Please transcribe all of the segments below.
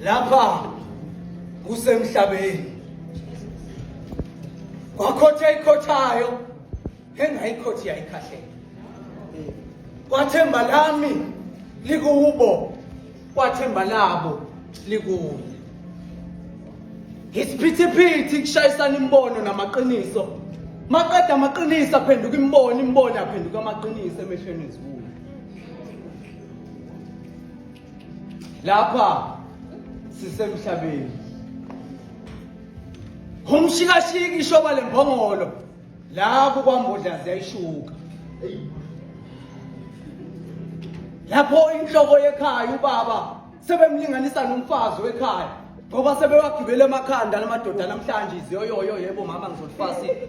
lapha kusemhlabeni kwakhotha ikhothayo engayikhothi yayikhahlela kwathemba lami likubo kwathemba labo likuye isiphithiphithi kushayisana imbono namaqiniso maqeda amaqiniso aphenduka imbono imbono aphenduka amaqiniso emehlweni ezibuya lapha sisemhlabeni umshikashiki ishoba lembongolo lapho kwambodlazi yayishuka lapho inhloko yekhaya ubaba sebemlinganisa nomfazi wekhaya ngoba sebewagibele emakhanda lamadoda namhlanje iziyoyoyo yebo mama ngizolifasile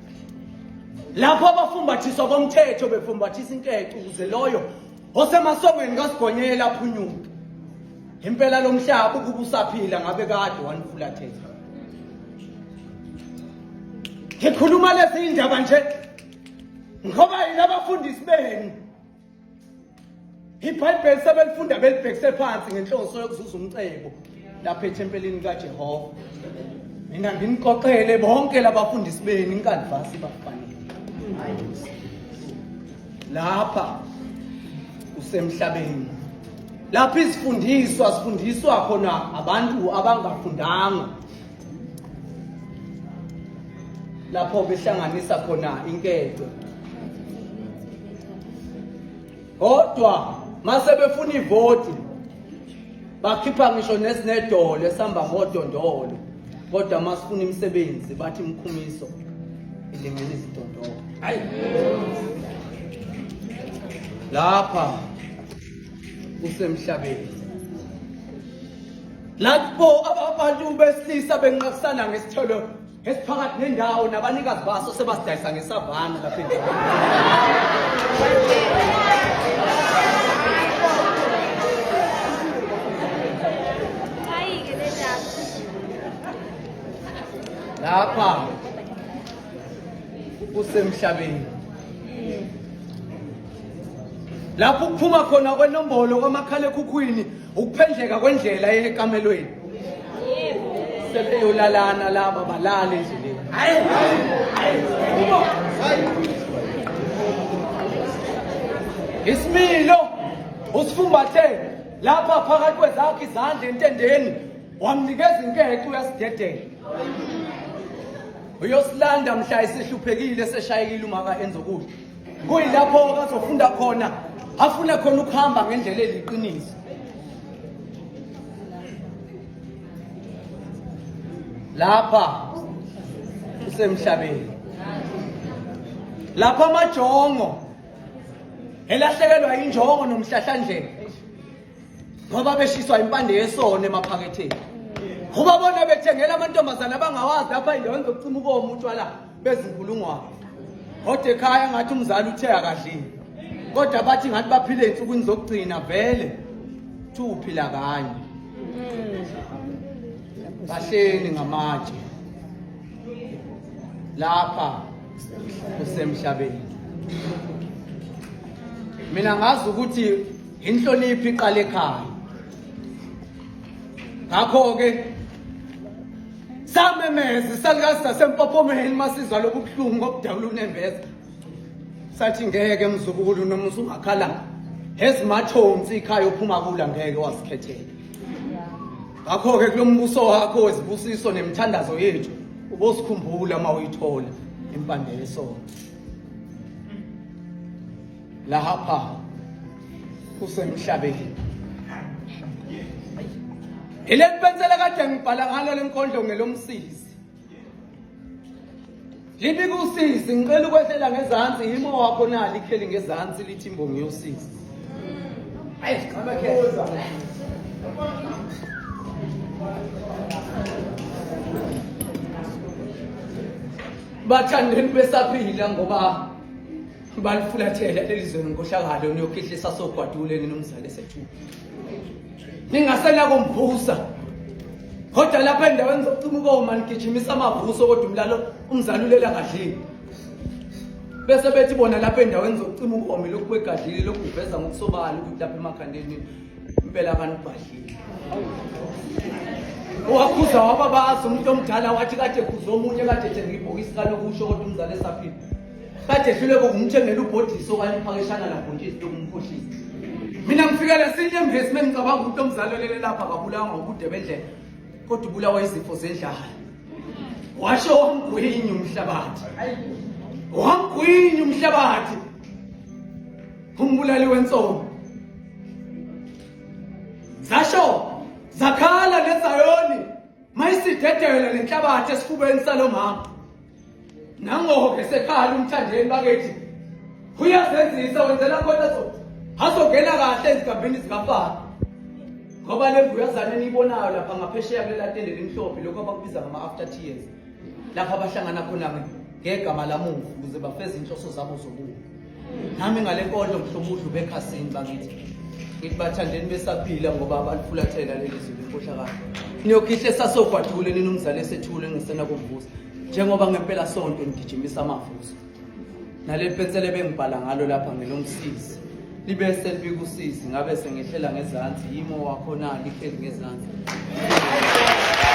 lapho abafumbathiswa komthetho befumbathisa inkece ukuze loyo osemasongweni kasigonyela aphunyuke impela lo mhlaba ukuba usaphila ngabe kade wanifulathela ngikhuluma lezi indaba nje ngoba yini abafundisi benu ibhayibheli sebelifunda belibhekise phansi ngenhloso yokuzuza umcebo lapha ethempelini likajehova mina nginikoxele bonke labafundisi benu inkanvasi bafanele lapha kusemhlabeni lapha izifundiswa zifundiswa khona abantu abangafundanga lapho behlanganisa khona inkece kodwa mase befuna ivoti bakhipha ngisho nesinedolo esihamba ngodondolo kodwa masifuna imisebenzi bathi imkhumiso ilingela izidondolo hayi lapha kusemhlabeni Lapho abantu besilisa benqakisana ngesithelo esiphakathi nendawo nabanikazi baso sebasidayisa ngesavana lapha lapha kusemhlabeni lapho kuphuma khona kwenombolo kwamakhalekhukhwini Ukuphendleka kwendlela ekamelweni. Sebeyolalana laba balale endleleni. Hayi. Isimilo usifumbathe lapha phakathi kwezakhe izandla entendeni wamnikeza inketho uyasidedela. Uyosilanda mhla isihluphekile seshayekile uma ka enza ukudla. kuyilapho-ke azofunda khona afune khona ukuhamba ngendlela eliqiniso lapha usemhlabeni lapha amajongo elahlekelwa injongo nomhlahlandlela ngoba beshiswa impande yesono emaphaketheni ubabona bethengela amantombazane abangawazi lapha indaweni zokucima ukomu utshwala bezinkulungwane kodwa ekhaya ngathi umzali uthe akadlile kodwa bathi ngathi baphile insukwini zokugcina vele thi uphila kanye bahleni ngamatshe lapha kusemhlabeni mina ngazi ukuthi inhloniphi iqale ekhaya ngakho-ke samemeza isalukazi sasempophomeni masizwa lobubuhlungu ngokudabula unembeza sathi ngeke mzukulu noma usungakhalanga ezimathonsi ikhaya ophuma kula ngeke wasikhethela ngakho-ke kulo mbuso wakho wezibusiso nemithandazo yethu ubosikhumbula uma uyithola impande yesona Lahapha kusemhlabeni. Ile pensela kade ngibhala ngalo lenkondlo ngelomsizi. Libi kusizi ngicela ukwehlela ngezansi yimo wakho nali ikheli ngezansi lithi imbongi yosizi. Ayi, ngaba ke. bathandeni besaphila ngoba balifulathele leli zwe ngenkohlakalo niyokhihlisa sogwadule nina umzali esethuka ningasela komvusa kodwa lapha endaweni zokucima ukoma nigijimisa amavuso kodwa umlalo umzali ulela kadlile bese bethi bona lapha endaweni zokucima ukoma lokhu kwegadlile lokhu kuveza ngokusobala ukuthi lapha emakhandeni impela kanibhadlile owakhuza wababazi umuntu omdala wathi kade khuza omunye kade ethenga ibhokisi kalokusho kodwa umzali esaphila kade ehlule kokumthengela ubhodisi okwaliphakeshana labhontshisi lokumkhohlisa mina ngifikele sinye emhesime ngicabanga ukuthi omzalelele lapha akabulawa ngobude bendlela kodwa ubulawa izifo zendlala washo wangwinye umhlabathi wangwinye umhlabathi umbulali wensono zasho zakhala nezayoni mayisidedele nenhlabathi esifubeni salomama nangoke sekhala umthandeni bakethi uyazenzisa wenzela khona azongena kahle ezigabhini zikafana ngoba le mbuyazane eniyibonayo lapha ngaphesheya kulela tende limhlophe lokho abakubiza ngama-after tears lapho abahlangana khona ngegama lamuva ukuze bafeze inhloso zabo zokuwa nami ngale nkonzo mhlomudlu bekhasini bakithi ngithi bathandeni besaphila ngoba balifulathela leli zulu inkohlakalo niyokhihla esasogwadule nina umzali esethule engisena kumvusa njengoba ngempela sonke ngigijimisa amavuso naleli pensela ebengibhala ngalo lapha ngelomsizi libe selibika usizi ngabe sengehlela ngezansi yimo wakhona lihleli ngezansi